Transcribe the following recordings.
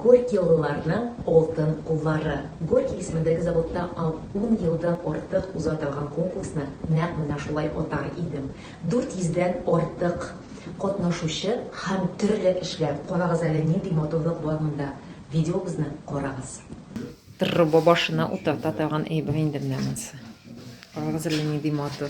Горькиолыларның алтын куллары. Горький исемендәге заводта ал ун елдан артык уза торган конкурсны нәкъ менә шулай атар идем. Дүрт йөздән артык катнашучы һәм төрле эшләр. Карагыз әле, нинди матурлык бар монда. Видеобызны карагыз. Труба башына утырта торган әйбер инде менә монысы. Карагыз әле, нинди матур.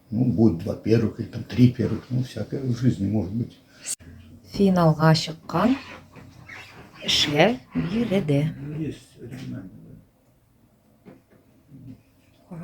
Ну, будет два первых или там три первых, ну, всякое в жизни может быть. Финалга чыккан эшләр биредә. Есть оригинальный.